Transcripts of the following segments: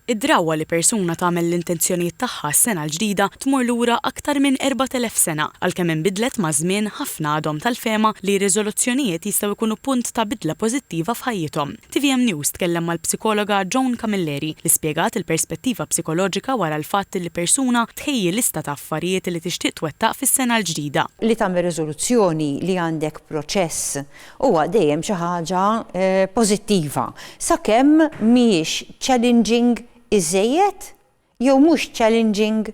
Id-drawwa li persuna tagħmel l-intenzjonijiet tagħha għas-Sena l-Ġdida tmur lura aktar minn 4,000 sena. Għalkemm inbidlet maż-żmien, ħafna għadhom tal-fehma li r-riżoluzzjonijiet jistgħu jkunu punt ta' bidla pożittiva f'ħajjithom. Tvm News tkellem mal-psikologa Joan Camilleri li spjegat il-perspettiva psikoloġika wara l-fatt li persuna tħejji lista ta' affarijiet li tixtieq twettaq fis-Sena l-Ġdida. Li tagħmel riżoluzzjoni li għandek proċess huwa dejjem xi ħaġa pożittiva sakemm mhijiex challenging iżżejjed jew mhux challenging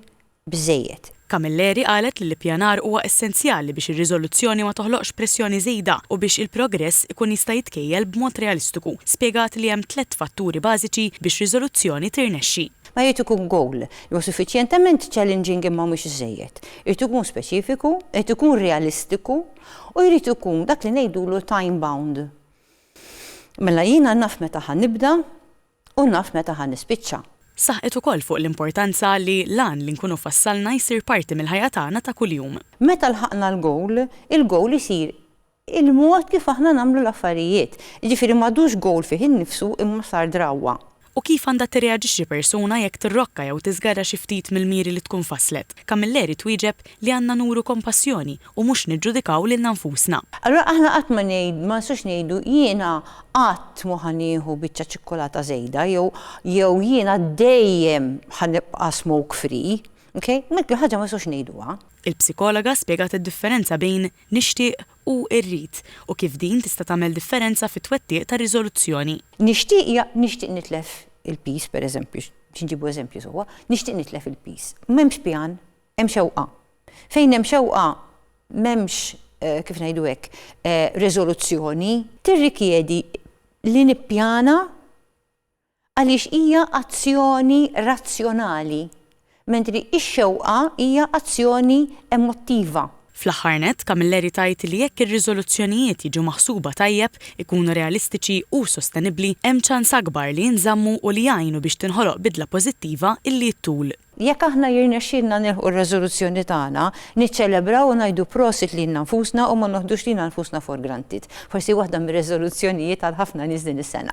biżżejjed. Camilleri qalet li l-ippjanar huwa essenzjali biex ir-riżoluzzjoni ma toħloqx pressjoni żejda u biex il-progress ikun jista' jitkejjel b'mod realistiku. Spjegat li hemm tliet fatturi bażiċi biex riżoluzzjoni tirnexxi. Ma jrid ikun goal li huwa suffiċjentement challenging imma mhux iżżejjed. Irid ikun speċifiku, irid ikun realistiku U jrid ikun dak li ngħidulu time bound. Mela jiena naf meta ħa nibda u naf meta ħa nispiċċa. Saħqet ukoll fuq l-importanza li l-għan li nkunu fassalna jsir parti mill-ħajja tagħna ta' kuljum. Meta lħaqna l-gowl, il-gowl isir il-mod kif aħna nagħmlu l-affarijiet. Jiġifieri m'għadux gowl fih innifsu imma sar drawwa. u kif għandha tirreaġixxi persuna jekk tirrokka jew tiżgarra xi ftit mill-miri li tkun fasslet, Camilleri twieġeb li għandna nuru kompassjoni u mhux niġġudikaw lilna nfusna. Allura aħna qatt ma ngħidu, ma nistgħux ngħidu, jiena qatt mhu ħa nieħu biċċa ċikkulata żejda jew jew jiena dejjem ħa nibqa' smoke free. Ok? Dik il-ħaġa ma nistgħux ngħiduha. Il-psikologa spjegat id-differenza bejn nixtieq hu rrid u kif din tista' tagħmel differenza fit-twettiq tar-riżoluzzjoni. Nixtieq ja nixtieq nitlef il-piż, pereżempju, biex inġibu eżempju sewwa, nixtieq nitlef il-piż. M'hemmx pjan, hemm xewqa. Fejn hemm xewqa m'hemmx, kif ngħidu hekk, riżoluzzjoni. Tirrikjedi li nippjana Għaliex hija azzjoni razzjonali, mentri x-xewqa hija azzjoni emottiva. Fl-aħħar nett, Camilleri tgħid li jekk ir-riżoluzzjonijiet jiġu maħsuba tajjeb, ikunu realistiċi u sostenibbli, hemm ċans akbar li jinżammu u li jgħinu biex tinħoloq bidla pożittiva illi ttul. Jekk aħna jirnexxielna nilħqu r-reżoluzzjoni tagħna, niċċelebraw u ngħidu prosit lilna nfusna u ma noħdux lilna nfusna for granted. Forsi waħda mir-reżoluzzjonijiet għal ħafna nies din is-sena.